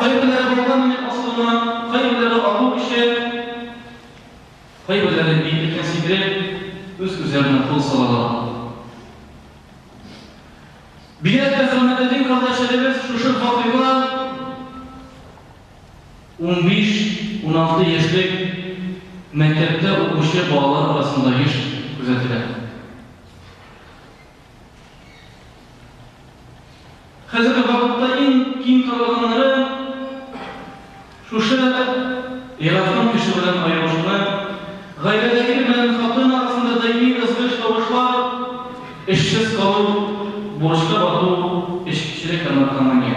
Кайберләре балга менеп асылына, кайберләре агу эчә, кайберләре биеклеккә сикереп, үз-үзләренә кул салалар. Биләл Әхәмәтетдин кардәшләребез шушы фабрикла унбиш, уналты яшьлек мәктәптә укучы балалар арасында еш күзәтелә. Хәзерге вакытта иң киң таралганнары шушы яраткан кеше белән аерылышуны, гаиләдәге белән хатын арасында даими ызгыш-тавышлар, эшсез калу, бурычка бату, эчкечелек һәм наркомания.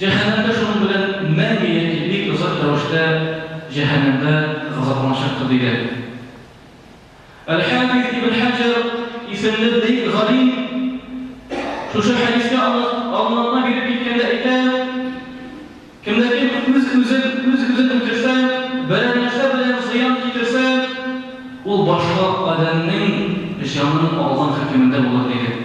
Җәһәннәмдә шуның белән мәңге яки бик озак рәвештә җәһәннәмдә газапланачактыр, дигән. Әл-Хафиз ибн Хаҗәр исемле бөек галим шушы хәдискә аңлатма биреп киткәндә әйтә, Кемдә кем үз-үзен үз-үзен үтерсә, берәр нәрсә белән зыян китерсә, ул башка адәмнең җанын алган хөкемендә булыр, дигән.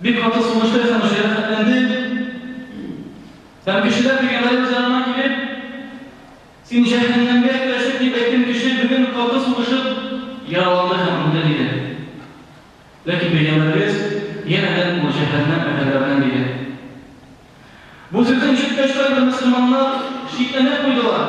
Бик каты сугыштык һәм җәрәхәтләндек. Һәм кешеләр Микаил җаныма килеп, Син җәһәннәмгә керәчәк дип әйткән кеше бүген каты сугышып, яраланды һәм үлде, диде. Ләкин бәйрәмебез янәдән ул җәһәннәм әһелләренең иде. Бу сүзне ишеткәч, кайбер мөселманнар шикләнеп куйдылар.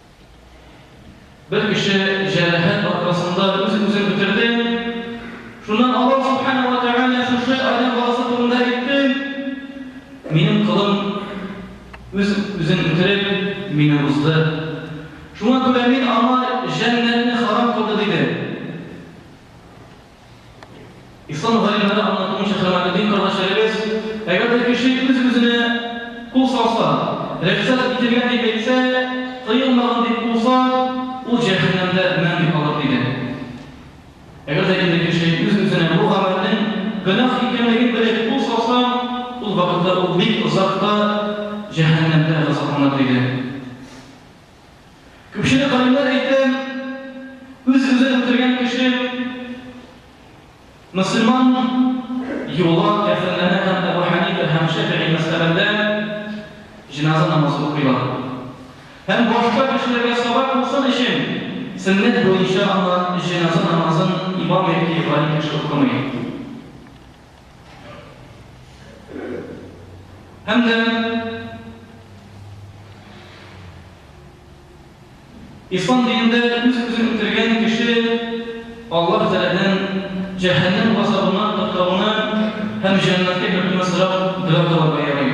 Бер кеше җәрәхәт аркасында үз-үзен бетерде. Шуннан Аллаһ Субхана ва Тәгалә шушы адәм баласы турында әйтте. Минем кылым үз-үзен бетереп, мине узды. Шуңа күрә мин аңа җәннәтне харам кылды, диде. Ислам галимнәре аңлатуынча, Камалетдин кардәшләребез, әгәр дә кеше үз-үзенә кул салса, рөхсәт ителгән дип әйтсә, тыелмаган дип куса, ул җәһәннәмдә мәңге калыр, диде. Әгәр дә инде кеше үз-үзенә бу гамәлнең гөнаһ икәнлеген белеп кул салса, ул вакытта ул бик озак та җәһәннәмдә газапланыр, диде. Күпчелек галимнәр әйтә, үз-үзен үтергән кеше мөселман юлы кәферләнә һәм Әбү Хәнифә һәм Шәфигый мәзһәбендә җеназа намазы укыйлар. Һәм башка кешеләргә сабак булсын өчен, сөннәт буенча аңа җеназа намазын имам яки галим кеше укымый. Һәм дә Ислам динендә үз-үзен үтергән кеше Аллаһ Тәгаләнең җәһәннәм газабыннан коткаруны һәм җәннәткә кертүне сорап дога кылырга ярый.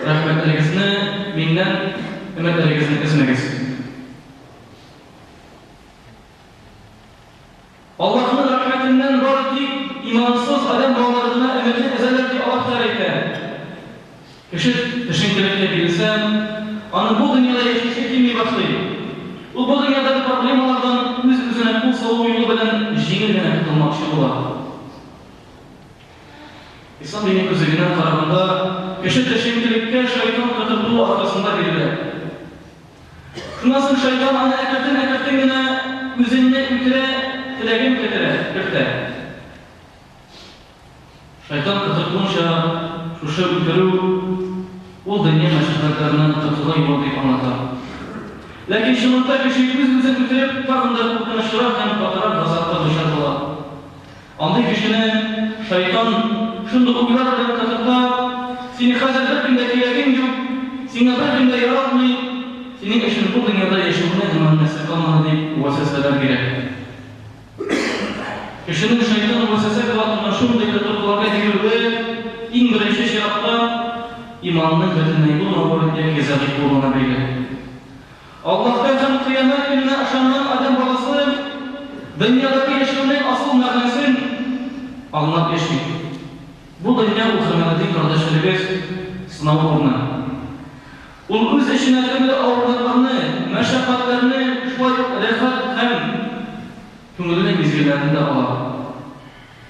Рәхмәтлегезне миннән, өметләрегезне өзмәгез. Аллаһның рәхмәтеннән бары тик имансыз адәм балалары гына өметне өзәләр, ди Аллаһ Тәгалә әйтә. Кеше төшенкелеккә бирелсә, аның бу дөньяда яшисе килми башлый. Ул бу дөньядагы проблемалардан үз-үзенә кул салу юлы белән җиңел генә котылмакчы була. Ислам дине күзлегеннән караганда, кеше төшенкелеккә шайтан котыртуы аркасында бирелә. Шуннан соң шайтан аны әкертен-әкертен генә үзеңне үтерә теләген кетерә, кертә. Шайтан котыртуынча, шушы үтерү, ул дөнья мәшәкатьләреннән котылу юлы дип аңлата. Ләкин чынлыкта кеше үз-үзен үтереп, тагын да куркынычрак һәм катырак газапка дучар була. Андый кешене шайтан шундук уйлар белән кызыка, сине хәзер беркем дә кирәгең юк, сиңа беркем дә яратмый, синең өчен бу дөньяда яшәүнең генә мәгънәсе калмады дип вәсвәсәләр бирә. Кешенең шайтан вәсвәсә кыла торган шундый тотрыкларга бирелүе, иң беренче чиратта, иманының бөтенләй булмавы яки зәгыйфь булуына бәйле. Аллаһка һәм Кыямәт көненә ышанган адәм баласы дөньядагы яшәүнең асыл мәгънәсен аңлап яши. Бу дөнья ул Камалетдин кардәшләребез сынау урыны. Ул үз эченә төрле авырлыкларны, мәшәкатьләрне, шулай ук рәхәт һәм күңелле мизгелләрне дә ала.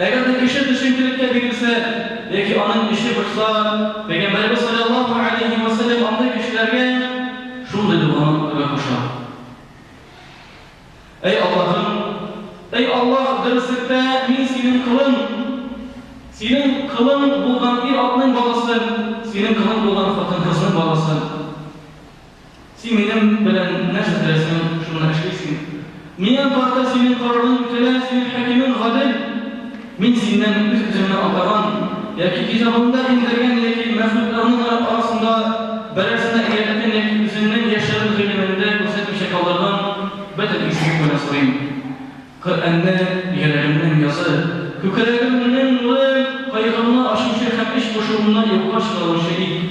Әгәр дә кеше төшенкелеккә бирелсә яки аның эче пошса, Пәйгамбәребез салләллаһу галәйһи вә сәлләм андый кешеләргә шундый доганы укырга куша. Әй Аллаһым! Әй Аллаһ, дөреслектә мин Синең колың! Синең колың булган ир-атның баласы, Синең колың булган хатын-кызның баласы! Син минем белән нәрсә теләсәң, шуны эшлисең. Миңа карата синең карарың үтәлә, синең хакимең гадел. Мин синнән үз-үземне атаган яки китабымда иңдергән яки мәхлукларның арасында берәрсенә өйрәткән яки үземнең яшерен гыйлемемдә күрсәтмичә калдырган бөтен изгелек белән сорыйм. Коръәнне, йөрәгемнең язы, күкрәгемнең нуры, кайгымны ачучы һәм эч пошуымны юкка чыгаручы ит.